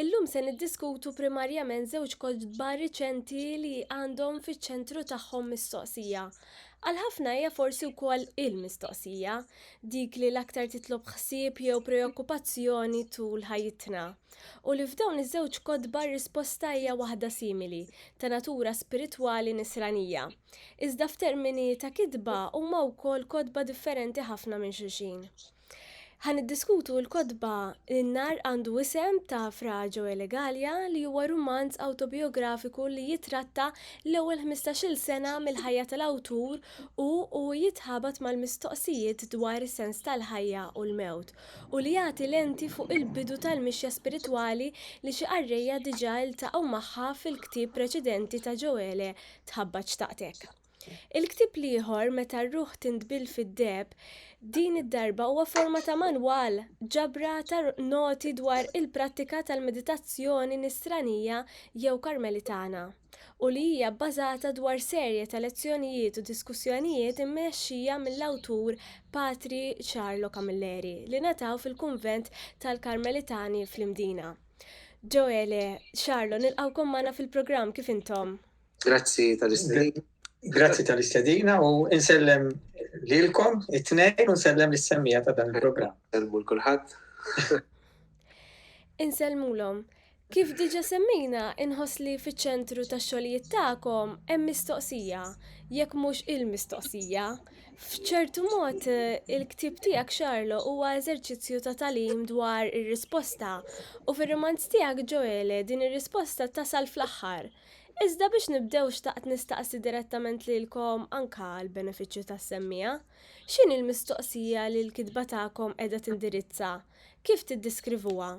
Illum se niddiskutu primarjament żewġ kotba riċenti li għandhom fiċ-ċentru tagħhom mistoqsija. Għal ħafna hija forsi wkoll il-mistoqsija, dik li l-aktar titlob ħsieb jew preokkupazzjoni tul ħajjitna. U li f'dawn iż-żewġ kotba r-risposta hija waħda simili, ta' natura spiritwali nisranija. Iżda f'termini ta' kitba huma wkoll kotba differenti ħafna minn xulxin. Ħa niddiskutu l-kotba In-nar għandu isem ta' Fra Joele Galea li huwa rumanz awtobijografiku li jitratta l-ewwel ħmistax-il sena mill-ħajja tal-awtur u u jitħabat mal-mistoqsijiet dwar is-sens tal-ħajja u l-mewt u li jagħti lenti fuq il-bidu tal-mixja spiritwali li xi qarrejja diġà iltaqgħu magħha fil-ktieb preċedenti ta' Joele Tħabbat Xtaqtek. Il-ktieb l-ieħor, Meta r-ruħ tintbill fid-deheb, din id-darba huwa forma ta' manwal, ġabra ta' noti dwar il-prattika tal-meditazzjoni Nisranija jew Karmelitana, u li hija bbażata dwar serje ta' lezzjonijiet u diskussjonijiet immexxija mill-awtur Patri Carlo Camilleri li ngħataw fil-kunvent tal-Karmelitani fl-Imdina. Joele, Charlo, nilqgħukom magħna fil-programm, kif intom? Grazzi tal-istedina. Grazzi tal-istedina u insellem lilkom it-tnejn u nsellem l-semmija ta' dan il-programm. Insellmu l-kulħadd. Insellmulhom. Kif diġa semmina, inħoss li fiċ-ċentru ta' xogħlijiet tagħkom hemm mistoqsija, jekk mhux il-mistoqsija. F'ċertu mod, il-ktib tiegħek Xarlo huwa eżerċizzju ta' talim dwar ir-risposta u fir-romanz tiegħek Ġoele din ir-risposta tasal fl-aħħar. Iżda biex nibdew xtaqt nistaqsi direttament lilkom anka għall-benefiċċju tas-semmiegħa, x'inhi l-mistoqsija li l-kitba tagħkom qiegħda tindirizza? Kif tiddiskrivuha?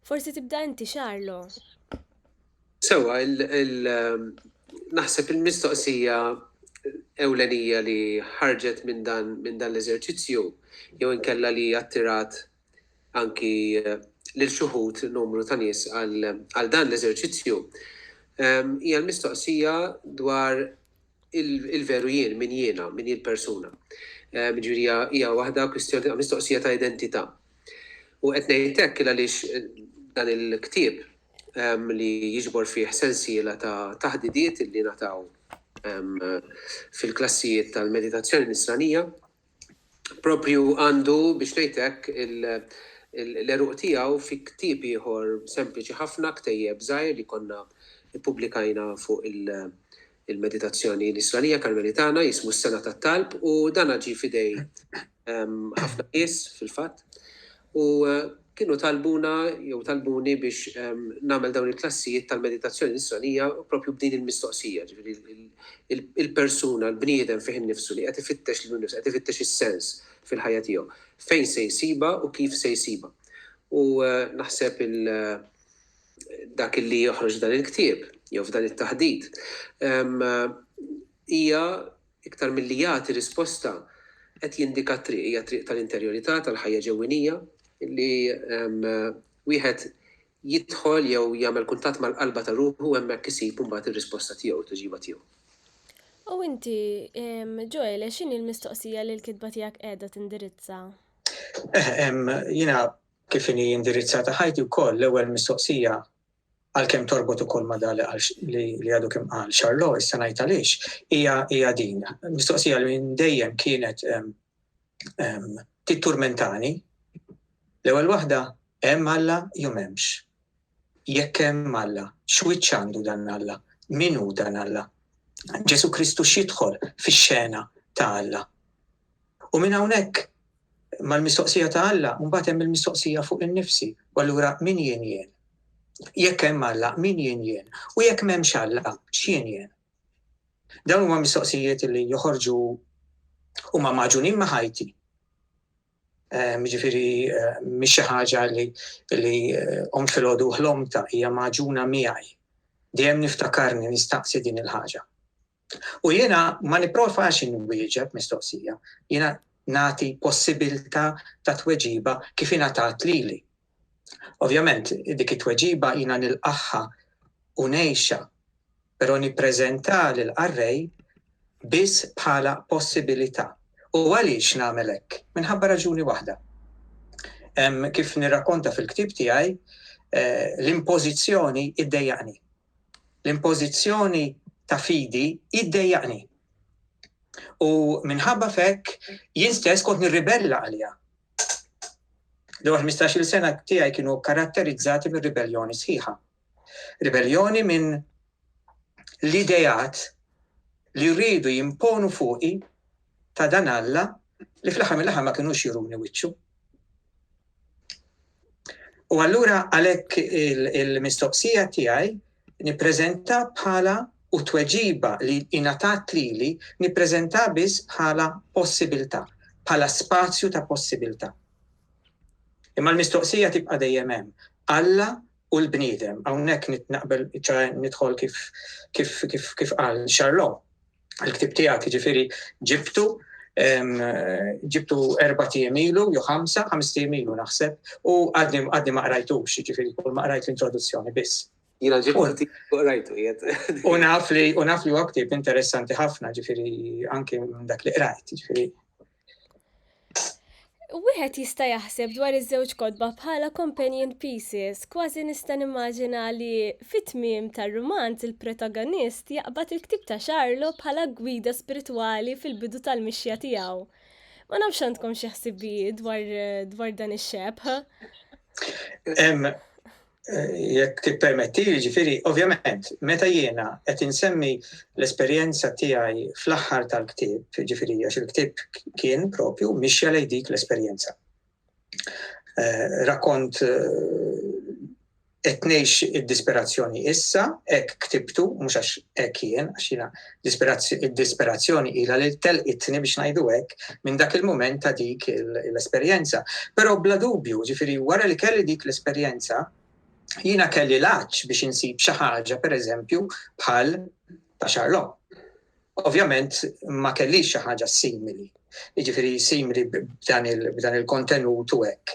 Forsi tibda inti Charlo? Sewwa, naħseb il-mistoqsija ewlenija li ħarġet minn dan l-eżerċizzju jew inkella li attirat anki lil xi wħud numru ta' nies għal dan l-eżerċizzju, hija l-mistoqsija dwar il-veru jien, min jiena, min jien persuna. Ġifieri hija waħda kwistjoni mistoqsija ta' identità. U qed ngħid hekk għaliex dan il-ktieb li jiġbor fih sensiela ta' taħdidiet li nataw fil-klassijiet tal-meditazzjoni nisranija, proprju għandu, biex ngħid hekk, l-għeruq tiegħu fi ktieb ieħor sempliċi ħafna, ktejjeb żgħir li konna ppubblikajna fuq il-meditazzjoni nisranija Karmelitana, jismu s-Sengħa tat-Talb u dan ġie f'idej ħafna nies fil-fatt. u kienu talbuna jew talbuni biex nagħmel dawn il-klassijiet tal-meditazzjoni nisranija proprju b'din il-mistoqsija, ġifieri il-persuna, l-bniedem fih innifsu li qed ifittex lilu nnifsu, qed ifittex is-sens fil-ħajja tiegħu, fejn se jsibha u kif se jsibha. U naħseb dak li joħroġ f'dan il-ktieb jew f'dan it-taħdit hija Iktar milli jagħti risposta, qed jindika t-triq, hija triq tal-interjorità, tal-ħajja ġewwinija, li wieħed jidħol jew jagħmel kuntatt mal-qalba ta' ruħu u hemmhekk isib imbagħad ir-risposta tiegħu, it-tweġiba tiegħu. U inti, Ġoele, x'inhi l-mistoqsija li l-kitba tiegħek qiegħda tindirizza? Jiena kif inhi indirizzata ħajti wkoll l-ewwel mistoqsija għalkemm torbot ukoll ma' dak li qal li għadu kemm qal Charlot, issa ngħid għaliex, hija hija din. Mistoqsija li minn dejjem kienet titturmentani. L-ewwel waħda hemm Alla jew m'hemmx. Jekk hemm Alla, x'wiċċ għandu dan Alla? Min hu dan Alla? Ġesu Kristu x'jidħol fix-xena ta' Alla? U minn hawnhekk Mal-mistoqsija ta' Alla, mbagħad hemm il-mistoqsija fuq innifsi, u allura min jien jien? Jekk hemm Alla, min jien jien? U jekk m'hemmx Alla, x'jien jien? Dawn huma mistoqsijiet li joħorġu huma magħġunin ma' ħajti. Ehm, ġifieri ehm, mhix xi ħaġa li li qom eh, filgħodu ħlomta hija magħġuna miegħi. Dejjem niftakarni nistaqsi din il-ħaġa. U jiena ma nipprovax inwieġeb mistoqsija, jiena nagħti possibilità ta' tweġiba kif ingħatat lili. Ovvjament, dik it-tweġiba jiena nilqaħħa u ngħixha, però nippreżenta lil qarrej biss bħala possibilità. U għaliex nagħmel hekk? Minħabba raġuni waħda. Kif nirrakkonta fil-ktieb tiegħi, eh, l-impożizzjoni iddejjaqni. l-impożizzjoni ta' fidi hi ddejjaqni. U minħabba f'hekk jien stess kont nirribella għaliha. L-ewwel 15-il sena tiegħi kienu karatterizzati minn ribelljoni sħiħa. Ribelljoni minn l-idejat li rridu jimponu fuqi ta' dan Alla li fl-aħħar mill-aħħar ma kinux juruni wiċċu. U allura għalhekk il-mistoqsija tiegħi nippreżenta bħala u tweġiba li ingħatat lili nippreżenta biss bħala possibilità, bħala spazju ta' possibilità. Imma l-mistoqsija tibqa' dejjem hemm. Alla u l-bniedem, hawnhekk naqbel nidħol kif kif kif kif qal Charlot. il-ktib tiegħek jiġifieri ġibtu ġibtu erba' tiem ilu, jew ħamsa, ħames tiem ilu naħseb, u għadni għadni ma qrajtux, jiġifieri kull ma qrajt l-introduzzjoni biss. Jiena ġibtu qrajtu jed. U naf li u naf li huwa ktib interessanti ħafna, ġifieri anke minn dak li qrajt, ġifieri Wieħed jista' jaħseb dwar iż-żewġ kotba bħala companion pieces, kważi nista' nimmaġina li fit-tmiem tar-rumanz il-protagonist jaqbad il-ktieb ta' Charlo bħala gwida spiritwali fil-bidu tal-mixja tiegħu. Ma nafx għandkom xi ħsibijiet dwar dan ix-xebħ. jekk tippermetti, ġifiri, ovvjament, meta jiena qed insemmi l-esperjenza tiegħi fl-aħħar tal-ktieb, ġifiri, għax il-ktieb kien propju mixja lej dik l-esperjenza. Eh, rakont qed eh, ngħix id-disperazzjoni issa, hekk ktibtu, mhux għax hekk jien, għax jiena Id-disperazzjoni ilha li telqitni, biex ngħidu hekk, minn dak il-mument ta' dik l-esperjenza. Però bla dubju, ġifieri wara li kelli dik l-esperjenza, jiena kelli l-għatx biex insib xi ħaġa, pereżempju, bħal ta' Charlot. Ovvjament ma kellix xi ħaġa simili, jiġifieri simili b'dan il-kontenut u hekk.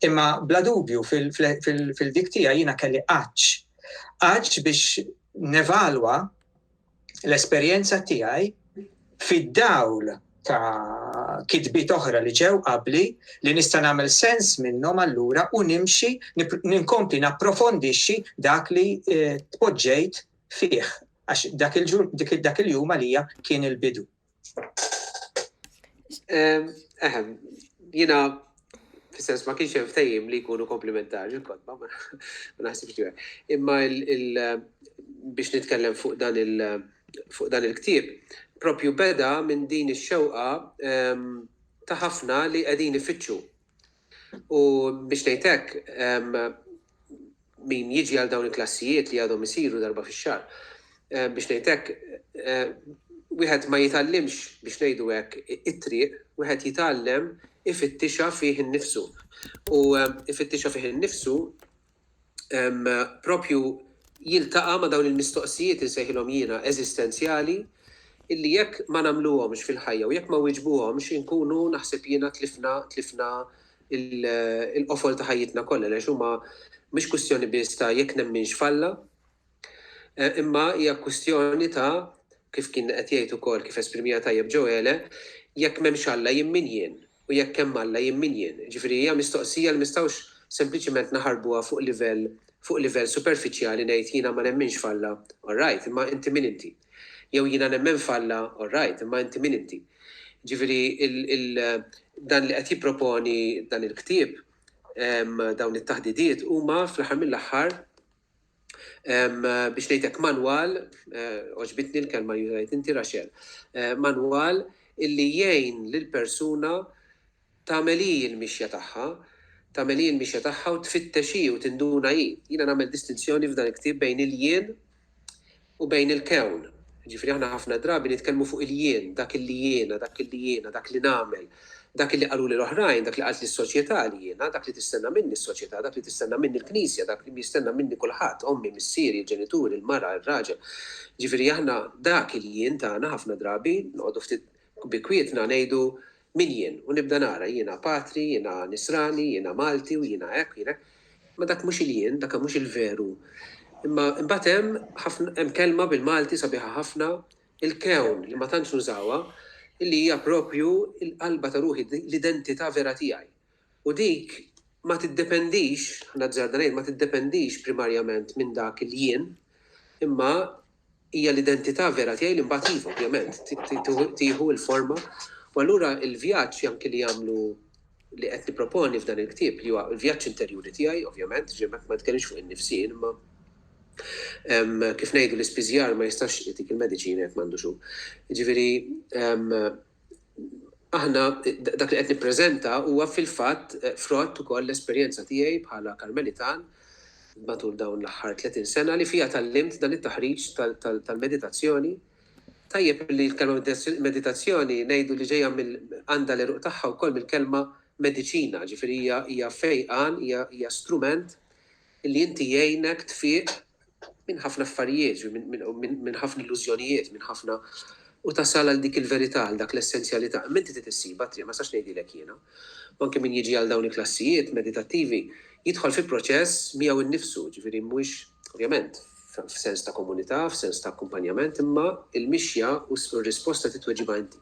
Imma bla dubju fil-dik tiegħi jiena kelli għatx. Għatx biex nevalwa l-esperjenza tiegħi fid-dawl ta' kitbiet oħra li ġew qabli li nista' nagħmel sens minnhom allura u nimxi ninkompli napprofondixxi dak li eh, tpoġġejt fih għax dak il-jum għalija kien il-bidu. Eħem, jina, fil-sens ma kienx ftejim li jkunu komplementari il-kodba, ma naħsibx li Imma biex nitkellem fuq dan il- fuq dan il-ktib, propju beda minn din ix-xewqa ta' ħafna li qegħdin ifittxu U biex ngħid hekk, min jiġi għal dawn il-klassijiet li għadhom isiru darba fix-xahar, biex ngħid hekk, wieħed ma jitgħallimx, biex ngħidu hekk, it-triq, wieħed jitgħallem ifittixha fih innifsu. U ifittixha fih innifsu propju jiltaqa' ma' dawn il-mistoqsijiet, insejħilhom jiena, eżistenzjali, illi jekk ma nagħmluhomx fil-ħajja u jekk ma wieġbuhomx inkunu naħseb jiena tlifna tlifna l-qofol ta' ħajjitna kollha għaliex huma mhix kwistjoni biss ta' jekk nemminx f'Alla, Imma hija kwistjoni ta', kif kien qed jgħid ukoll, kif esprimiha tajjeb Ġoele, jekk m'hemmx Alla jien min jien? U jekk hemm Alla jien min jien? Jiġifieri hija mistoqsija li m'istgħux sempliċiment naħarbuha fuq livell fuq livell superfiċjali ngħid jiena ma nemminx f'Alla, all right, imma inti min inti? Jew jiena nemmen f'Alla, all right, imma inti min inti? Jiġifieri il dan li qed jipproponi dan il-ktieb, dawn it-taħdidiet huma fl-aħħar mill-aħħar, biex ngħidlek manwal, oġbitni l-kelma jużajt inti Raxel, manwal illi jgħin lil persuna tagħmel hi l-mixja tagħha, tagħmel hi l-mixja tagħha u tfittex hi u tinduna hi. Jiena nagħmel distinzjoni f'dan il-ktieb bejn il-jien u bejn il-kewn. Jiġifieri aħna ħafna drabi nitkellmu fuq il-jien, dak illi jiena, dak illi jiena, dak li nagħmel, dak illi qaluli l-oħrajn, dak li qaltli s-soċjetà li jiena, dak li tistenna minni s-soċjetà, dak li tistenna minni l-Knisja, dak li jistenna minni kulħadd, ommi, missieri, il-ġenituri, il-mara, ir-raġel. Jiġifieri aħna dak il-jien tagħna ħafna drabi noqogħdu ftit U bi kwietna ngħidu, Min jien? U nibda nara, jiena patri, jiena nisrani, jiena Malti u jiena hekk u jiena hekk. Imma dak mhux il-jien, dak mhux il-veru. Imma imbagħad hemm ħafna, hemm kelma bil-Malti sabiħa ħafna, il-kewn, li ma tantx nużawha, li hija proprju l-qalba ta' ruħi, l-identità vera tiegħi. U dik ma tiddependix, nazzarda ngħid, ma tiddependix primarjament minn dak il-jien, imma hija l-identità vera tiegħi li mbagħad iva, ovvjament, tieħu l-forma. U allura l-vjaġġ anki li jagħmlu li qed nipproponi f'dan il-ktieb li huwa l-vjaġġ interjuri tiegħi, ovvjament, jiġifieri ma nitkellimx fuq in-nifsien, imma kif ngħidu l-ispiżjar ma jistax jagħtik il-mediċina jekk m'għandux hu. Jiġifieri Aħna, dak li qed nippreżenta huwa fil-fatt frott ukoll l-esperjenza tiegħi bħala Karmelitan matul dawn l-aħħar 30 sena li fiha tgħallimt dan it-taħriġ tal-meditazzjoni. Tajjeb li l-kelma meditazzjoni ngħidu li ġejja mill għandha l-għeruq tagħha wkoll mill-kelma mediċina, ġifieri hija fejqan, hija strument li inti jgħinek tfiq minn ħafna affarijiet, minn ħafna illużjonijiet, minn ħafna u tasal għal dik il-verità, għal dak l-essenzjalità. Imma inti trid issibha t-triq, ma nistax ngħidilek jiena. U anke min jiġi għal dawn il-klassijiet meditattivi jidħol fi proċess miegħu nnifsu, ġifieri mhux, ovvjament, f'sens ta' komunità, f'sens ta' akkumpanjament, imma l-mixja u r-risposta titweġibha inti.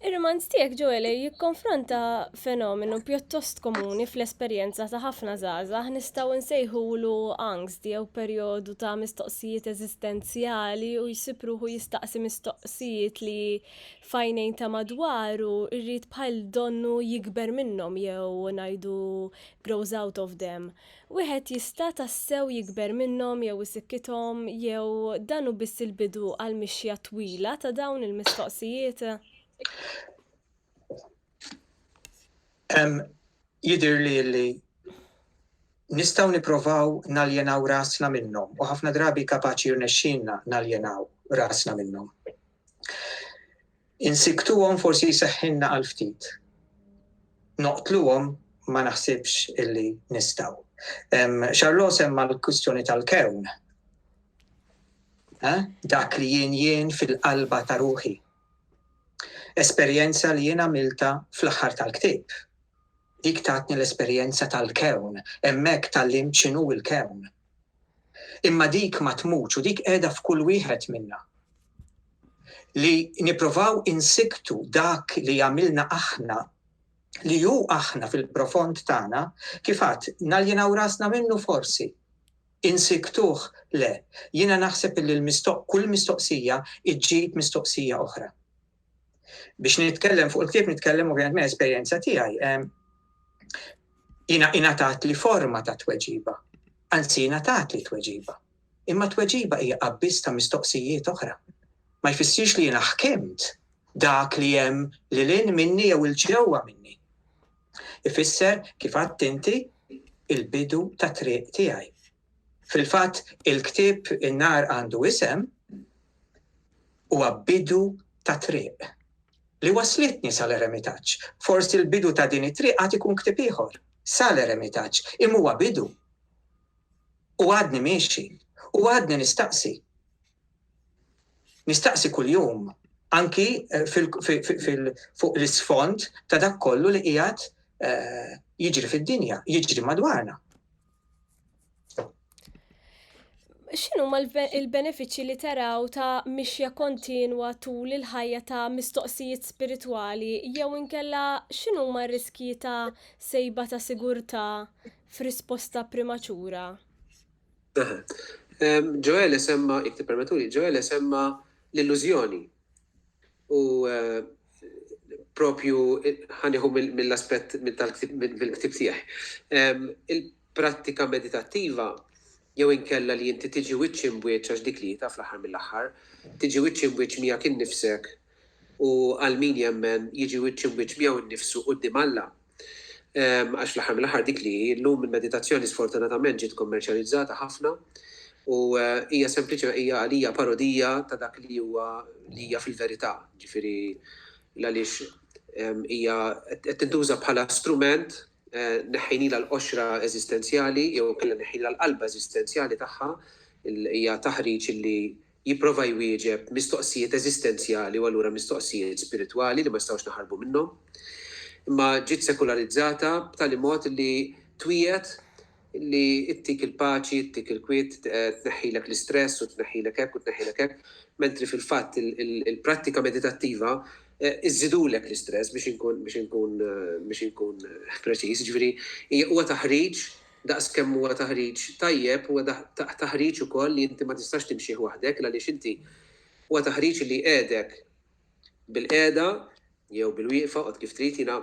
Ir-romanz tiegħek Ġoele jikkonfronta fenomenu pjuttost komuni fl-esperjenza ta' ħafna żgħażagħ nistgħu nsejħulu angst jew perjodu ta' mistoqsijiet eżistenzjali u jsib ruħu jistaqsi mistoqsijiet li f'għajnejn ta' madwaru jrid bħal donnu jikber minnhom jew ngħidu grows out of them. Wieħed jista' tassew jikber minnhom jew isikkithom jew dan hu biss il-bidu għal mixja twila ta' dawn il-mistoqsijiet? Jidhirli li nistgħu nipprovaw naljenaw rasna minnhom u ħafna drabi kapaċi jirnexxilna naljenaw rasna minnhom. Insiktuhom forsi jseħħilna għal ftit. Noqtluhom ma naħsibx illi nistgħu. Charlot semma l-kwistjoni tal-kewn. Eh? Dak li jien jien fil-qalba ta' ruħi. Esperjenza li jien għamilta fl-aħħar tal-ktib. Dik tatni l-esperjenza tal-kewn, hemmhekk tal-lim ċinu il-kewn. Imma dik ma tmutx u dik qiegħda f'kull wieħed minna. Li nipprovaw insikktu dak li jagħmilna aħna, li hu aħna fil-profond tagħna, kif għadt, naljenaw rasna minnu forsi? Insikktuh? Le. Jiena naħseb illi l-mistoq, kull mistoqsija ġġib mistoqsija oħra. Biex nitkellem fuq il-ktieb nitkellem ovvjament minn esperjenza tiegħi. Jina ingħatat li forma ta' tweġiba, anzi ingħatat li tweġiba. Imma tweġiba hija qabbis ta' mistoqsijiet oħra. Ma jfissirx li jiena ħkimt dak li hemm li lin minni jew il-ġewwa minni. Ifisser kif għadt inti il-bidu ta' triq tiegħi. Fil-fatt, il-ktieb In-Nar Għandu Isem huwa bidu ta' triq li wasslitni sa l-eremitaġġ. Forsi l-bidu ta' din it-triq għad ikun ktieb ieħor, sa l-eremitaġġ, imma huwa bidu. U għadni miexi, u għadni nistaqsi. Nistaqsi kuljum, anki fuq l-isfond ta' dak kollu li qiegħed jiġri fid-dinja, jiġri madwarna. X'inhu ma l-benefiċċji li taraw ta' mixja kontinwa tul il-ħajja ta' mistoqsijiet spiritwali jew inkella x'inhu ma riskji ta' sejba ta' sigurtà f'risposta primaċura? Ġoele semma, jekk tippermettuli, Ġoele semma l-illużjoni U propju ħa nieħu mill-aspett mill-ktieb tiegħi. Il-prattika meditattiva jew inkella li inti tiġi wiċċ imbwiċċ għax dik li taf l-aħħar mill-aħħar, tiġi wiċċ imbwiċċ miegħek innifsek u għal min jemmen jiġi wiċċ imbwiċċ miegħu nnifsu quddiem Alla, Għax fl-aħħar mill-aħħar dik li hi llum il-meditazzjoni sfortunatament ġiet kommerċjalizzata ħafna u hija sempliċi hija għalija parodija ta' dak li huwa li hija fil-verità, ġifieri għaliex hija qed tintuża bħala strument neħħinilha l-qoxra eżistenzjali jew kellha neħħinilha l-qalba eżistenzjali tagħha hija taħriġ li jipprova jwieġeb mistoqsijiet eżistenzjali u allura mistoqsijiet spiritwali li ma nistgħux naħarbu minnhom. Imma ġiet sekularizzata b'tali mod li twiegħed li ttik il-paċi, ttik il-kwiet, tneħħilek l-istress u tneħħilek hekk u tneħħilek hekk, mentri fil-fatt il-prattika meditattiva iżżidulek l-istress biex inkun biex inkun biex inkun preċiż, ġifieri huwa taħriġ Daqs kemm huwa taħriġ tajjeb, huwa taħriġ ukoll li inti ma tistax timxih waħdek l-għaliex inti huwa taħriġ li jqiegħdek bil-qiegħda jew bil-wieqfa, oqgħod kif trid, jiena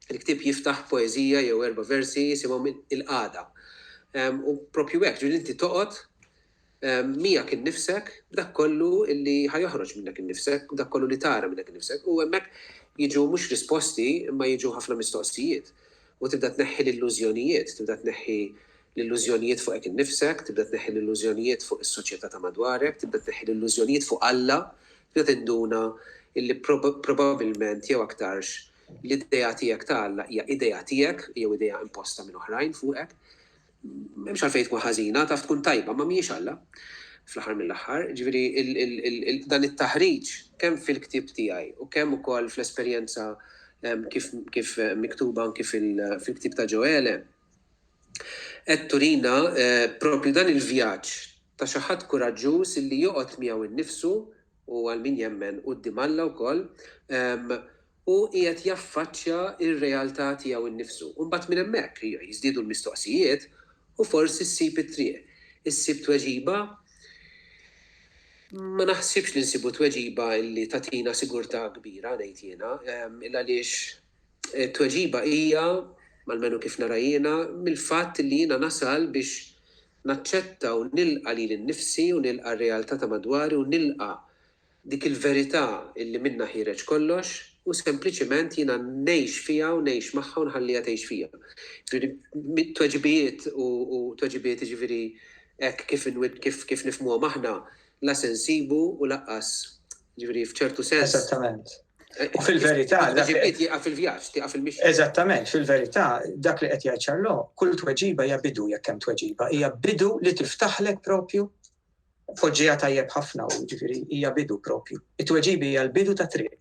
l-ktieb jiftaħ poeżija jew erba' versi jisimhom Il-Qagħda. U proprju hekk, ġifieri li inti toqgħod miegħek innifsek, b'dak kollu li ħa joħroġ minnek innifsek, b'dak kollu li tara minnek innifsek, u hemmhekk jiġu mhux risposti imma jiġu ħafna mistoqsijiet. U tibda tneħħi l-illużjonijiet, tibda tneħħi l-illużjonijiet fuqek innifsek, tibda tneħħi l-illużjonijiet fuq is-soċjetà ta' madwarek, tibda tneħħi l-illużjonijiet fuq Alla, tibda tinduna illi probabbilment jew aktarx l-idea tiegħek ta' Alla hija idea tiegħek jew idea imposta minn oħrajn fuqek. M'hemmx għalfejn tkun ħażina, taf tkun tajba, imma mhijiex Alla, fl-aħħar mill-aħħar. Jiġifieri, dan it-taħriġ, kemm fil-ktieb tiegħi u kemm ukoll fl-esperjenza kif miktuba anki fil-ktieb ta' Ġoele, qed turina proprju dan il-vjaġġ ta' xi ħadd kuraġġuż li joqgħod miegħu nnifsu u għal min jemmen quddiem Alla wkoll, hu qiegħed jaffaċċja r-realtà tiegħu nnifsu. U mbagħad minn hemmhekk jiżdiedu l-mistoqsijiet u forsi ssib it-triq. Issib tweġiba? Ma naħsibx li nsibu tweġiba li tagħtina sigurtà kbira, ngħid jiena, il-għaliex it-tweġiba hija, almenu kif nara jiena, mill-fatt li jiena nasal biex naċċetta u nilqa' lili nnifsi u nilqa' r-realtà ta' madwari u nilqa' Dik il-verità illi minnha ħiereġ kollox u sempliċement jiena ngħix fiha u ngħix magħha u nħalliha tgħix fija. Jiġifieri tweġibijiet u tweġibiet jiġifieri hekk kif kif kif nifhmuhom aħna la se nsibu u laqqas jiġifieri f'ċertu sens. Eżattament. U fil-verità. Tweġibiet jieqaf fil-vjaġġ, tieqaf il-mixja. Eżattament, fil-verità dak li qed jgħid Charlot, kull tweġiba hija bidu jekk hemm tweġiba, hija bidu li tiftaħlek propju Poġġiha tajjeb ħafna u ġifieri hija bidu propju. It-tweġibi hija l-bidu ta' triq.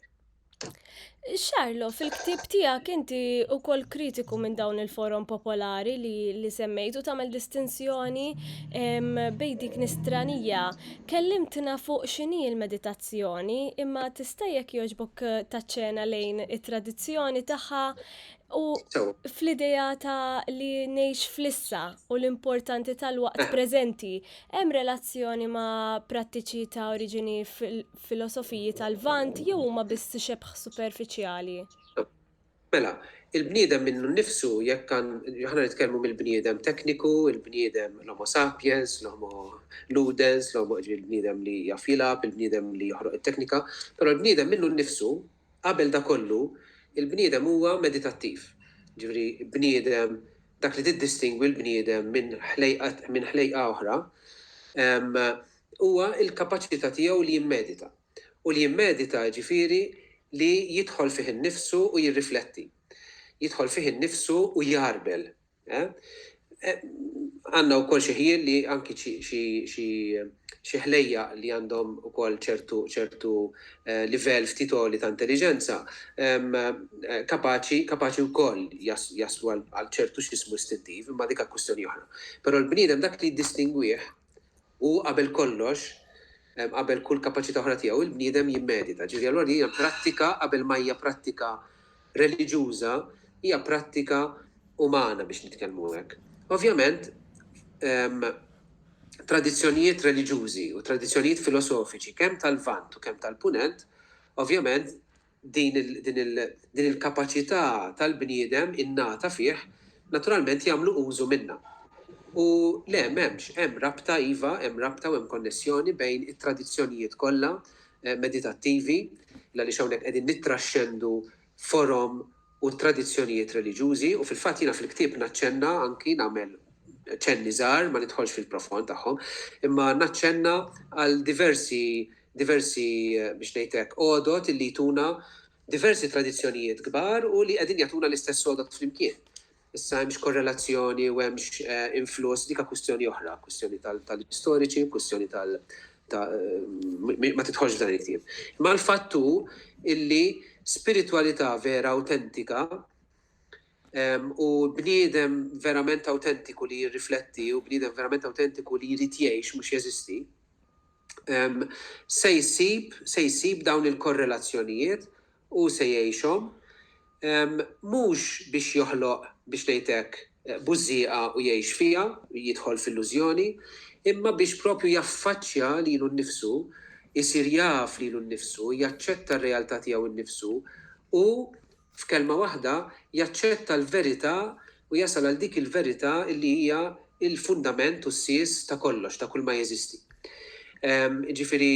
Xarlo, fil-ktib tiegħek inti wkoll kritiku minn dawn il-forum popolari li, li semmejtu tagħmel distinzjoni bejn dik nistranija. Kellimtna fuq x'inhi l-meditazzjoni, imma tista' jekk jogħġbok taċċena lejn it-tradizzjoni tagħha U fl-idea ta' li nejx flissa u l-importanti tal-waqt eh. preżenti, hemm relazzjoni ma' prattiċi ta' oriġini filosofiji tal-vant jew huma biss xebħ superfiċjali? Mela, il-bniedem minnu nnifsu jekk kan ħana nitkellmu mill-bniedem tekniku, il-bniedem l-homo sapiens, l-homo ludens, l-homo il-bniedem li jaf jilab, il-bniedem li joħroq it-teknika, però l-bniedem minnu nnifsu Qabel dak kollu, il-bniedem huwa meditattiv. Jiġifieri bniedem, dak li tiddistingwi l-bniedem minn ħlejqa minn ħlejqa oħra, huwa l-kapaċità tiegħu li jimmedita. U li jimmedita jiġifieri li jidħol fih innifsu u jirrifletti. Jidħol fih innifsu u jgħarbel. Għandna wkoll xi ħjiel li anki xi ħlejjaq li għandhom ukoll ċertu livell ftit għoli ta' intelliġenza kapaċi wkoll jaslu għal ċertu x'ismu istintiv, imma dik għal kwistjoni oħra. Però l-bniedem dak li jiddistingwih Hu qabel kollox, qabel kull kapaċità oħra tiegħu, il-bniedem jimmedita. Ġifieri allura din hija prattika qabel ma hija prattika reliġjuża, hija prattika umana biex nitkellmu hekk. Ovvjament, tradizzjonijiet reliġjużi u tradizzjonijiet filosofiċi kemm tal-Lvant u kemm tal-Punent, ovvjament, din il-kapaċità tal-bniedem innata fih, naturalment jagħmlu użu minnha. U le, m'hemmx, hemm rabta, iva, hemm rabta u hemm konnessjoni bejn it-tradizzjonijiet kollha meditattivi, l-għaliex hawnhekk qegħdin nittraxxendu forom u t-tradizzjonijiet reliġjużi, u fil-fatt jiena fil-ktieb naċċenna anki, nagħmel ċenni żgħar, ma nidħolx fil-profond tagħhom, imma naċċenna għal diversi, diversi, biex ngħid hekk, għodod illi jtuna diversi tradizzjonijiet kbar u li qegħdin jagħtuna l-istess għodod flimkien. Issa hemmx korrelazzjoni u hemmx influss, dik kwistjoni oħra, kwistjoni tal-istoriċi, kwistjoni tal- ma tidħolx f'dan il-ktieb. Imma l-fatt hu illi spiritwalità vera awtentika u bniedem verament awtentiku li jirrifletti u bniedem verament awtentiku li jrid jgħix mhux jeżisti, se jsib se jsib dawn il-korrelazzjonijiet Hu se jgħixhom. Mhux biex joħloq, biex ngħid hekk, bużżieqa u jgħix fiha, jidħol f'illużjoni, imma biex proprju jaffaċċja lilu nnifsu, isir jaf lilu nnifsu, jaċċetta r-realtà tiegħu nnifsu u, f'kelma waħda, jaċċetta l-verità u jasal għal dik il-verità li hija l-fundament u s-sies ta' kollox, ta' kulma jeżisti. Jiġifieri,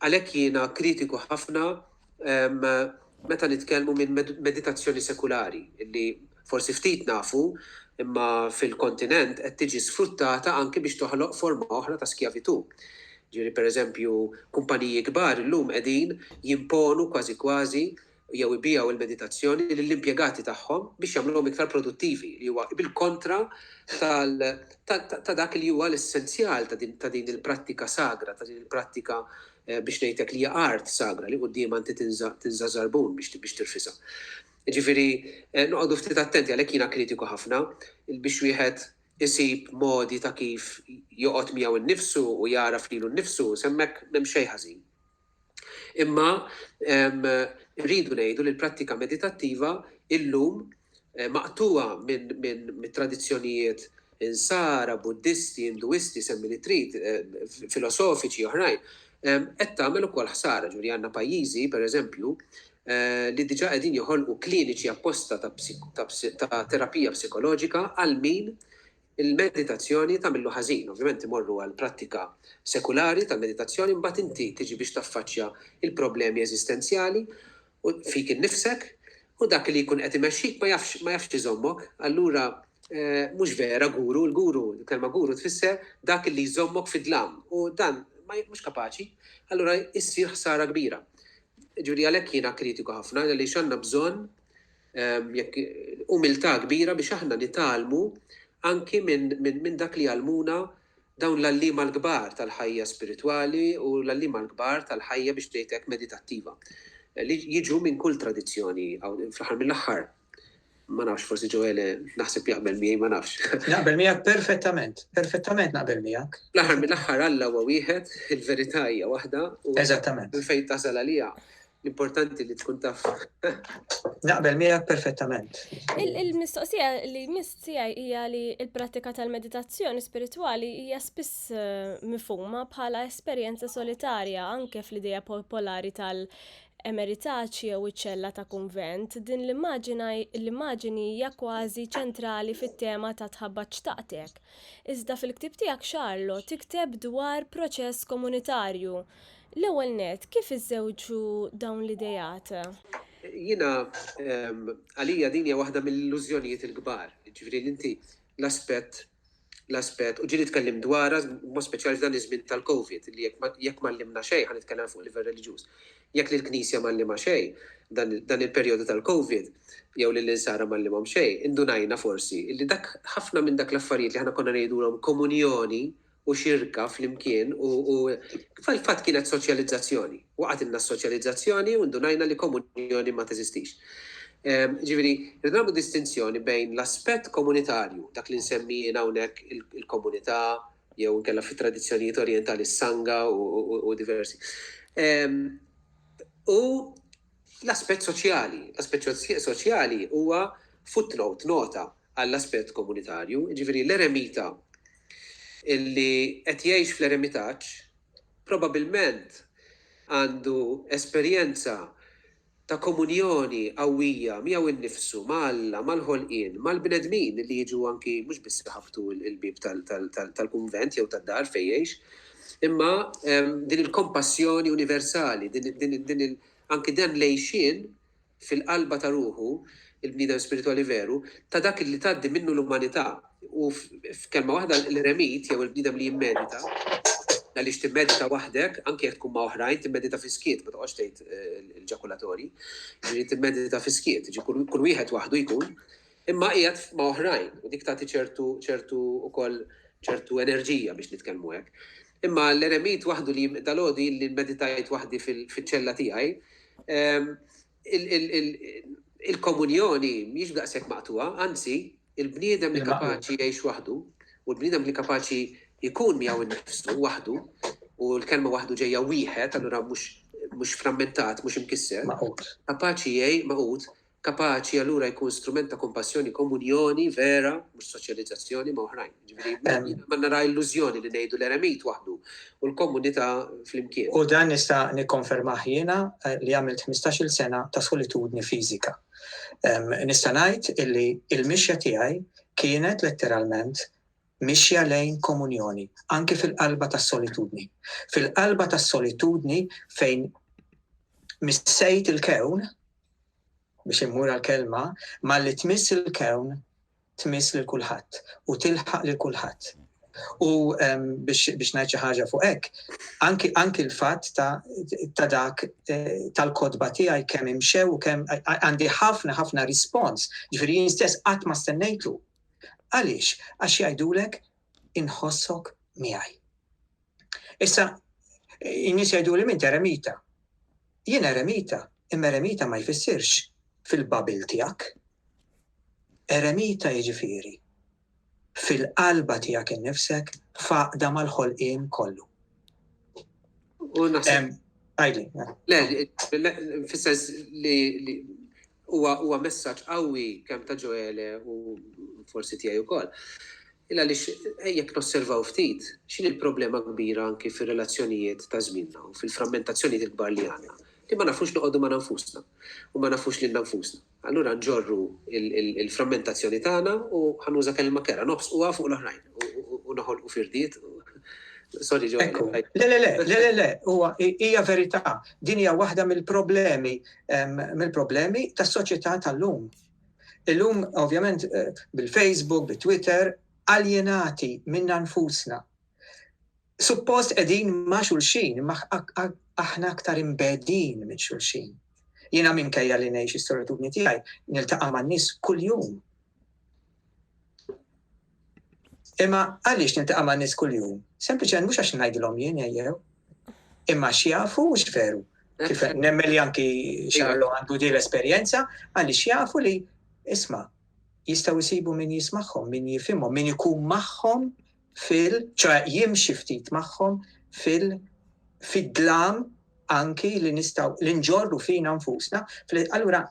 għalhekk jiena kritiku ħafna Meta nitkellmu minn meditazzjoni sekulari, li forsi ftit nafu, imma fil-kontinent qed tiġi sfruttata anki biex toħloq forma oħra ta' skjavitù. Ġifieri pereżempju, kumpaniji kbar illum qegħdin jimponu kważi kważi jew ibigħu l-meditazzjoni lill-impjegati tagħhom biex jagħmluhom iktar produttivi, li huwa bil-kontra ta' dak li huwa l-essenzjal ta' din il-prattika sagra, ta' din il-prattika Biex ngħidlek li hija art sagra li quddiemha inti tinża' żarbun biex tirfisha. Jiġifieri noqogħdu ftit attenti għalhekk jiena kritiku ħafna biex wieħed isib modi ta' kif joqgħod miegħu nnifsu u jagħraf lilu nnifsu, s'hemmhekk m'hemm xejn ħażin. Imma rridu ngħidu li l-prattika meditattiva illum maqtugħa mit-tradizzjonijiet Insara, Buddisti, Induisti, semmi li trid, filosofiċi oħrajn, qed tagħmel ukoll ħsara. Ġifieri għandna pajjiżi, pereżempju, li diġà qegħdin joħolqu kliniċi apposta ta' terapija psikoloġika għal min il-meditazzjoni tagħmillu ħażin. Ovvjament imorru għal prattika sekulari tal-meditazzjoni, imbagħad inti tiġi biex taffaċċja l-problemi eżistenzjali u fik innifsek, u dak li jkun qed imexxik ma jafx ma jafx iżommok, allura mhux vera guru, l-guru, il-kelma guru tfisser dak li jżommok fid-dlam u dan ma mhux kapaċi, allura issir ħsara kbira. Ġifieri għalhekk jiena kritiku ħafna għaliex għandna bżonn jekk umiltà kbira biex aħna nitgħallmu anki minn dak li jgħallmuna dawn l-għalliema l-kbar tal-ħajja spiritwali u l-għalliema l-kbar tal-ħajja biex ngħid hekk meditattiva li jiġu minn kull tradizzjoni fl-aħħar mill-aħħar ma nafx forsi Ġoele naħseb jaqbel miegħi ma nafx. Naqbel miegħek perfettament, perfettament naqbel miegħek. L-aħħar mill-aħħar Alla huwa wieħed, il-verità hija waħda u Eżattament. fejn tasal għalija. L-importanti li tkun taf. Naqbel miegħek perfettament. Il-mistoqsija li jmiss tiegħi hija li l-prattika tal-meditazzjoni spiritwali hija spiss eh, mifhuma bħala esperjenza solitarja anke fl-idea popolari tal- emeritaċi jew iċ-ċella ta' kunvent, din l-immaġini hija kważi ċentrali fit-tema ta' tħabbat xtaqtek. Iżda fil-ktib tiegħek Charlo tikteb dwar proċess komunitarju L-ewwel nett, kif iżżewġu dawn l-ideat? Jiena, għalija din hija waħda mill-illużjonijiet il-kbar, jiġifieri li inti l-aspett, l-aspett, u ġieli tkellimt dwarha b'mod speċjali f'dan iż-żmien tal-Covid, li jekk ma għallimna xejn, ħa nitkellem fuq livell reliġjuż, jekk lill-Knisja ma għallimha xejn dan il-perjodu tal-Covid, jew lill-insara ma għallimhom xejn, indunajna forsi li dak, ħafna minn dak l-affarijiet li aħna konna ngħidulhom komunjoni u xirka flimkien u u fil-fatt kienet soċjalizzazzjoni. Waqgħetilna s-soċjalizzazzjoni u ndunajna li komunjoni ma teżistix. Jiġifieri, rridu nagħmlu distinzjoni bejn l-aspett komunitarju, dak li nsemmi jien hawnhekk il-komunità jew inkella fit-tradizzjonijiet orjentali s-sangha u diversi, u l-aspett soċjali. L-aspett soċjali huwa footnote, nota, għall-aspett Komunitarju, jiġifieri l-eremita li qed jgħix fl-eremitaġġ probabbilment għandu esperjenza ta' komunjoni qawwija miegħu nnifsu, ma' Alla, mal-ħolqien, mal-bnedmin li jiġu anki mhux biss iħabbtu l-bieb tal-kunvent jew tad-dar fejn jgħix, imma din il-kompassjoni universali, din anki dan l-għixien fil-qalba ta' ruħu, il-bniedem spiritwali veru, ta' dak li tgħaddi minnu l-umanità. U f'kelma waħda, l-eremit jew il-bniedem li jimmedita, għaliex timmedita waħdek, anke jekk tkun ma' oħrajn, timmedita fis-skiet, ma toqgħodx tgħid eh, il-ġakulatorji, ġifieri timmedita fis-skiet, ġi kull wieħed waħdu jkun, imma qiegħed ma' oħrajn, u dik tagħti ċertu ċertu ukoll ċertu enerġija biex nitkellmu hekk. Imma l-eremit waħdu li dalgħodu illi mmeditajt waħdi fiċ-ċella tiegħi, il-komunjoni mhijiex daqshekk maqtugħa, anzi, il-bniedem li kapaċi jgħix waħdu u l-bniedem li kapaċi jkun miegħu nnifsu waħdu, u l-kelma waħdu ġejja wieħed, allura mhux frammentat, mhux imkisser, kapaċi jgħix magħqud, Kapaċi allura jkun strument ta' kompassjoni, komunjoni vera, mhux soċjalizzazzjoni ma' oħrajn. Jiġifieri ma nara illużjoni li ngħidu l-eremit waħdu u l-komunità flimkien. U dan nista' nikkonfermah jiena li għamilt ħmistax-il sena ta' solitudni fiżika. Nista' ngħid illi l-mixja tiegħi kienet letteralment mixja lejn komunjoni, anki fil-qalba tas-solitudni. Fil-qalba tas-solitudni fejn missejt il-kewn, biex immur għall-kelma, malli tmiss il-kewn tmiss lil kulħadd u tilħaq lil kulħadd. U ehm, biex ngħid xi ħaġa fuq hekk, anki l-fatt ta' dak eh, tal-kodba tiegħi kemm imxew u kemm għandi ħafna ħafna rispons, ġifieri jien stess qatt ma stennejtu. Għaliex? Għax jgħidulek inħossok miegħi. Issa, in-nies jgħiduli minn eremita. Jien eremita, imma eremita ma jfissirx fil-babil tiegħek. Eremita jiġifieri fil-qalba tiegħek innifsek faqda mal-ħolqien kollu. U naħseb. Għajli. Le, fissens li huwa messaġġ qawwi kemm ta' Ġoele u forsi tiegħi wkoll. Illa li jekk nosservaw ftit, x'in il-problema kbira anki fir-relazzjonijiet ta' żmienna u fil-frammentazzjonijiet il-kbar li għandna, li ma nafux noqogħdu ma' nfusna u ma nafux lil nfusna. Allura nġorru l-frammentazzjoni tagħna u ħa nuża kelma kerha, nobsquha fuq l-oħrajn u noħolqu firdiet. Sorry ġo. Ekku. Le le le, le le le, huwa hija verità. Din hija waħda mill-problemi mill-problemi tas-soċjetà tal-lum. Illum ovvjament eh, bil-Facebook, bit-Twitter, aljenati minna nfusna. Suppost qegħdin ma' xulxin, imma aħna aktar imbegħdin minn xulxin. Jiena minkejja li ngħix is-solitudni tiegħi, niltaqa' man-nies kuljum. Imma għaliex niltaqa' man-nies kuljum? Sempliċement mhux għax ngħidilhom jien ejjew, imma x'jafu u x'veru. Kif nemmen li anki xarlu għandu di l-esperjenza, għalli xjafu li isma jistaw jisibu min jismaħħom, min jifimhom, min ikun maħħom fil, ċe jimxi ftit magħhom fil, fid-dlam anki li nistaw li nġorru fina nfusna, allura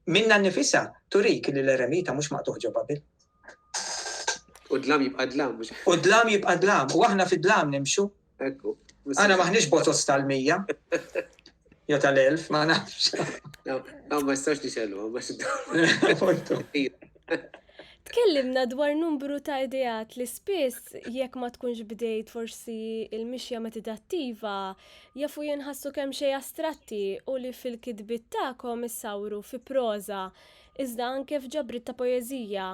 minna nifisa turik li l-eremita mhux maqtuħ ġo Babil. U dlam jibqa' dlam. U dlam jibqa' dlam, u aħna fid-dlam nimxu, Ekku. Għana maħnix botos tal-mija. Jo tal-elf, ma nafx. Għaw ma jistax nixellu, ma xiddu. Tkellimna dwar numru ta' ideat li spiss jekk ma tkunx bdejt forsi il-mixja metidattiva jafu jenħassu kemm xej astratti u li fil-kitbit tagħkom issawru fi proza iżda anke f'ġabrit ta' poeżija.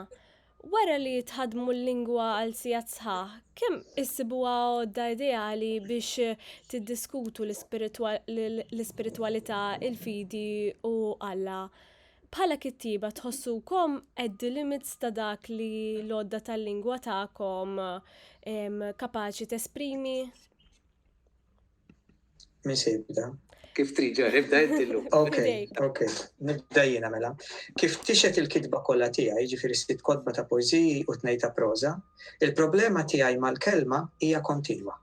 Wara li tħaddmu l-lingwa għal sigħat sħaħ, kemm issibuha għodda ideali biex tiddiskutu l-ispiritwalità, il-fidi u Alla? Bħala kittieba tħossukom at the limits ta' dak li l-għodda tal-lingwa tagħkom kapaċi tesprimi? Minn xibda. Kif trid ġar, ibda inti llum. Ok, ok, nibda jiena mela. Kif tixet il-kitba kollha tiegħi, ġifieri sitt kotba ta' poeżiji u tnejn ta' proża, il-problema tiegħi mal-kelma hija kontinwa.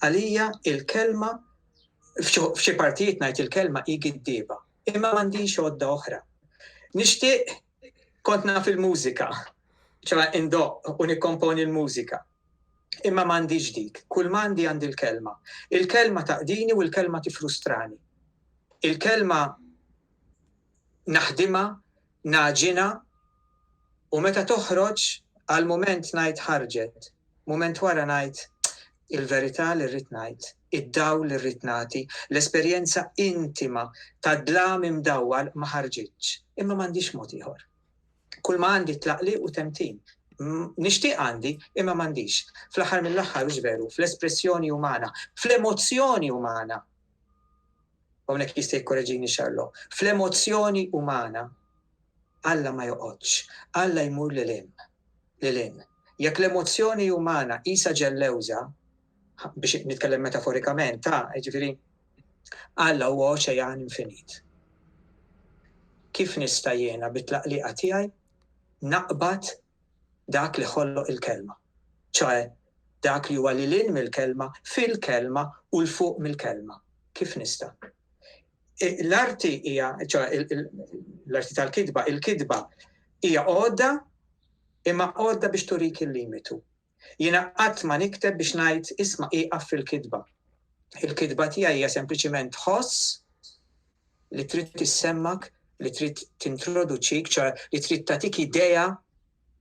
Għalija il-kelma f'xi partijiet ngħid il-kelma hi giddieba, imma m'għandix għodda oħra. Nixtieq kont naf il-mużika, ċoħe indoqq u nikkomponi l-mużika. Imma m'għandix dik, kull m'għandi għandi l-kelma. Il-kelma taqdini u l-kelma tifrustrani. Il-kelma naħdimha, ngħaġinha u meta toħroġ għal mument ngħid ħarġet. Mument wara ngħid, Il-verità li rrid ngħid, id-dawl li rrid nagħti, l-esperjenza intima tad-dlam imdawwal ma ħarġitx, imma m'għandix mod ieħor. Kulma għandi tlaqliq u temtin. Nixtieq għandi, imma m'għandix. Fl-aħħar mill-aħħar hux veru, fl-espressjoni umana, fl-emozzjoni umana, hawnhekk jista' jikkoreġini Xarlo, fl-emozzjoni umana, Alla ma joqgħodx, Alla jmur lil hemm. lil hinn. Jekk l-emozzjoni umana qisha ġellewża, biex nitkellem metaforikament, ta' jiġifieri Alla huwa oċejan infinit. Kif nista' jiena bit-tlaqliqa tiegħi naqbad dak li ħolloq il-kelma, ċoe dak li huwa lil hinn mill-kelma, fil-kelma u 'l fuq mill-kelma? Kif nista'? L-arti hija, l-arti tal-kitba, il-kitba hija għodda imma għodda biex turik il-limitu. Jiena qatt ma nikteb biex ngħid isma' iqaf fil-kitba. Il-kitba tiegħi hija sempliċiment tħoss li trid tissemmak, li trid tintroduċik, ċa li trid tatik idea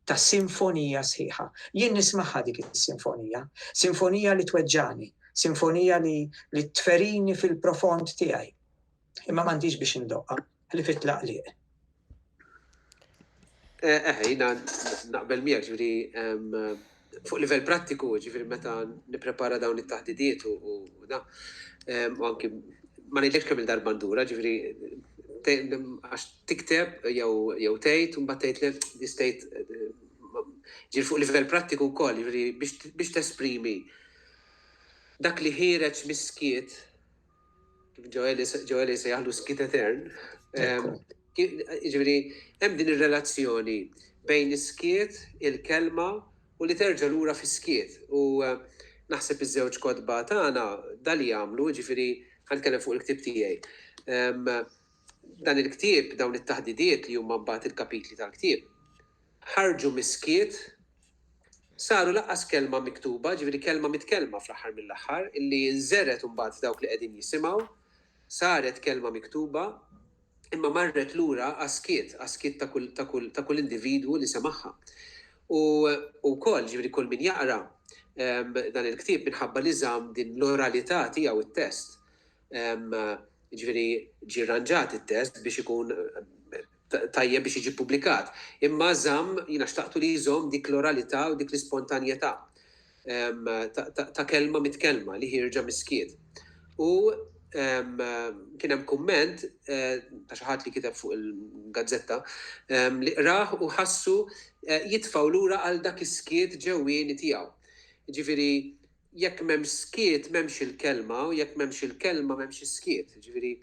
ta' sinfonija sħiħa. Jien nismagħha dik is-sinfonija. Sinfonija li tweġġagħni. Sinfonija li li tferini fil-profond tiegħi. Imma m'għandix biex indoqqa, ħlief it-tlaqliq. Eh, eh, jina naqbel miegħek ġifieri fuq livell prattiku, ġifieri meta nipprepara dawn it-taħdidiet u da, u anki ma ngħidlekx kemm il-darba ndura, ġifieri għax tikteb jew tgħid u mbagħad tgħid li distejt ġifieri fuq livell prattiku wkoll, ġifieri biex tesprimi dak li ħireġ miskiet kif Ġoeli jsejjaħlu skiet etern, jiġifieri hemm din ir-relazzjoni bejn is-skiet, il-kelma u li terġa' lura fis-skiet. U naħseb iż-żewġ kotba tagħna dan li għamlu, jiġifieri ħa nitkellem fuq il-ktieb tiegħi. Dan il-ktieb, dawn it-taħdidiet li huma mbagħad il-kapitli tal-ktieb, ħarġu mis-skiet, saru lanqas kelma miktuba, ġifieri kelma mitkellma fl-aħħar mill-aħħar, illi nżergħet imbagħad f'dawk li qegħdin jisimgħu, saret kelma miktuba, imma marret lura għas-skiet, għas-skiet ta' kull, ta' kull, ta' kull individwu li semagħha. U, u wkoll, ġifieri kull min jaqra, ehm, dan il-ktieb minħabba li żamm din l-oralità tiegħu it-test, ehm, ġifieri ġie rranġat it-test biex ikun, tajjeb biex jiġi ppubblikat. Imma żamm, jiena xtaqtu li jżomm dik l-oralità u dik l-ispontanjetà ta' kelma mitkellma li ħierġa mis-skiet. U kien hemm kumment ta' xi ħadd li kiteb fuq il-gazzetta li qrah u ħassu jitfgħu lura għal dak is-skiet ġewwieni tiegħu. Jiġifieri jekk m'hemmx skiet m'hemmx il-kelma u jekk m'hemmx il-kelma m'hemmx is-skiet. Jiġifieri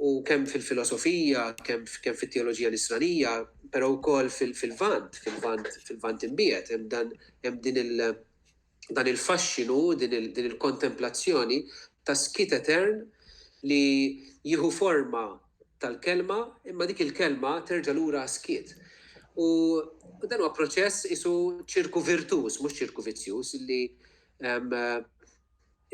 u kemm fil-filosofija, kemm kemm fit-teoloġija nisranija, però wkoll fil-Lvant, fil-Lvant fil-Lvant imbiegħed hemm dan hemm din il dan il-faxxinu, din il-kontemplazzjoni ta' skiet etern li jieħu forma tal-kelma, imma dik il-kelma terġa' lura għas-skiet. U dan huwa proċess isu ċirku virtuż, mhux ċirku vizzjuż, li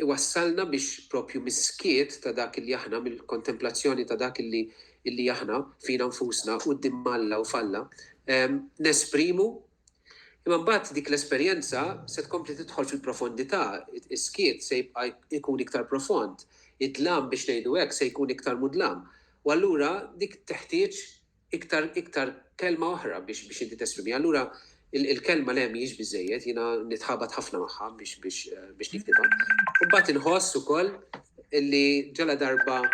iwassalna biex propju mis-skiet ta' dak li aħna, mill-kontemplazzjoni ta' dak li illi aħna fina nfusna u d-dimmalla u falla, nesprimu Imma mbagħad dik l-esperjenza se tkompli tidħol fil-profondità, is-skiet se jibqa' jkun iktar profond, id-dlam biex ngħidu hekk se jkun iktar mudlam. U allura dik teħtieġ iktar iktar kelma oħra biex biex inti tesprimiha. Allura il-kelma le mhijiex biżżejjed, jiena nitħabat ħafna magħha biex biex biex niktibha. Imbagħad inħoss ukoll li ġala darba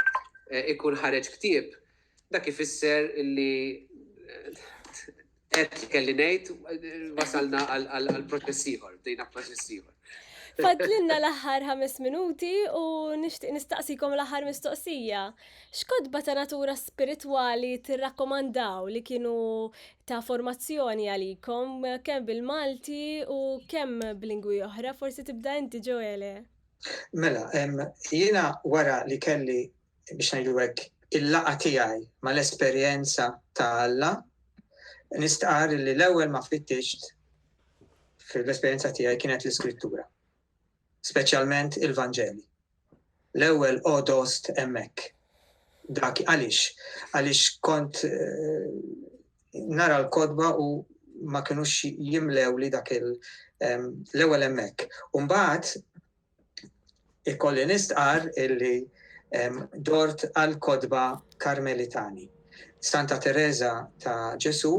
ikun ħareġ ktieb Dak ifisser li għedt li kelli ngħid, wasalna għal proċess ieħor, bdejna proċess ieħor. Fadlinna l-aħħar ħames minuti u nixtieq nistaqsikom l-aħħar mistoqsija. X'kotba ta' natura spiritwali tirrakkomandaw li kienu ta' formazzjoni għalikom kemm bil-Malti u kemm b'lingwi oħra, forsi tibda inti Ġoele. Mela, jiena wara li kelli biex ngħidu hekk, il-laqgħa tiegħi mal-esperjenza ta' Alla, nistqar li l-ewwel ma fittixt fil-esperjenza tiegħi kienet l-iskrittura, speċjalment il-Vanġeli. L-ewwel odost hemmhekk. Dak għaliex, għaliex kont eh, nara l-kodba u ma kienux jimlew li dak il- eh, l-ewwel hemmhekk. Umbagħad Ikolli nistqarr illi dort għall-kotba Karmelitani, Santa Tereża ta' Ġesù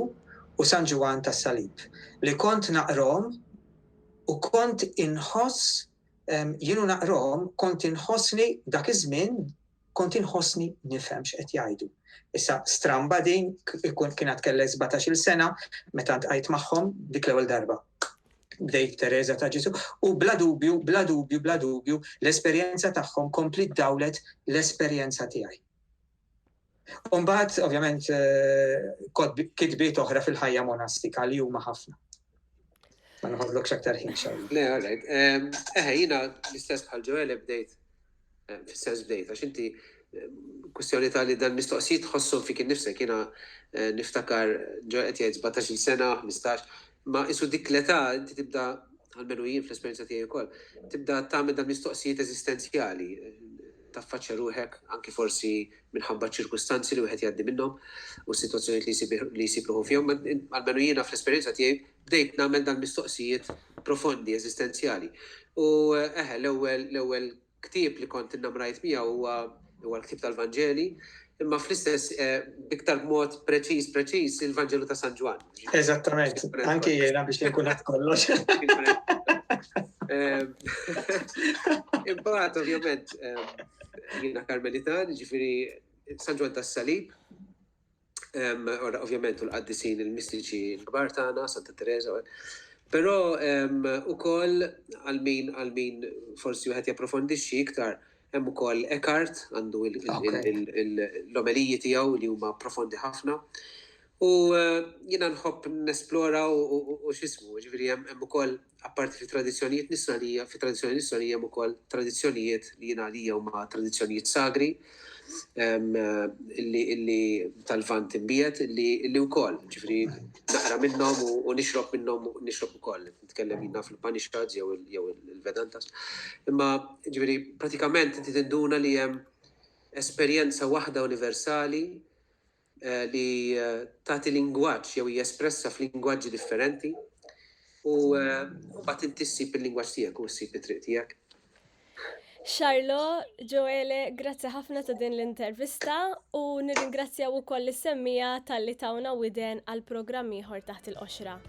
u San Ġwann tas-Salib li kont naqrahom u kont inħoss jien u naqrahom kont inħossni dak iż-żmien, Kont inħossni nifhem x'qed jgħidu. Issa stramba din, kont kien għad kellha sbatax-il sena meta ltqajt magħhom dik l-ewwel darba. Bdejt b'Tereża ta' Ġesù u bla dubju, bla dubju, bla dubju, l-esperjenza tagħhom kompliet dawlet l-esperjenza tiegħi. U mbagħad, ovvjament, kotbiet, kitbiet oħra fil-ħajja monastika li huma ħafna. Ma nħodlokx aktar ħin xejn. Le, all right. Eħe, jina l-istess bħal ġewel bdejt, fis-sens bdejt, għax inti kustjoni ta' li dan mistoqsijiet tħossom fik innifsek, jina eh, niftakar ġewel qed jgħid 17 sena, 15, ma isu dik l-età inti tibda għalmenu jien fl-esperjenza tiegħi wkoll, tibda tagħmel dan mistoqsijiet eżistenzjali, taffaċċja ruħek anki forsi minħabba ċ-ċirkustanzi li wieħed jgħaddi minnhom u s-sitwazzjonijiet li jsib li jsib ruħu fihom, almenu jiena fl-esperjenza tiegħi bdejt nagħmel dal-mistoqsijiet profondi, eżistenzjali. U eħe, l-ewwel l-ewwel ktieb li kont innamrajt miegħu huwa huwa l-ktieb tal-Vanġeli, imma fl-istess eh, biktar mod preċiż preċiż il-Vanġelu ta' San Ġwan. Eżattament, anke jiena biex nkun qed kollox. Ehm, imbagħad ovvjament ehm, Jiena Karmelitan, ġifiri San Ġwan tas-Salib, ovvjament u l-qaddisin il-mistiċi l-kbar tagħna, Santa Teresa. Però ukoll għal min għal min forsi wieħed japprofondixxi iktar hemm ukoll Eckhart għandu l-omeliji tiegħu li huma profondi ħafna. U jiena nħobb nesplora u x'ismu, jiġifieri hemm ukoll apparti fit-tradizzjonijiet Nisranija, fit-tradizzjoni Nisranija hemm ukoll tradizzjonijiet li jien għalija huma tradizzjonijiet sagri li tal-Lvant imbiegħed li wkoll, jiġifieri naqra minnhom u nixrob minnhom u nixrob ukoll, nitkellem jien naf il-Upanishads jew il-Vedantas. Imma jiġifieri pratikament inti tinduna li hemm esperjenza waħda universali li tagħti lingwaġġ jew hija espressa f'lingwaġġi differenti u mbagħad inti ssib il-lingwaġġ tiegħek u ssib it-triq tiegħek. Xarlo, Ġoele, grazzi ħafna ta' din l-intervista u nirringrazzjaw ukoll is-semmija tal-li tawna widen għal programm ieħor taħt il-qoxra.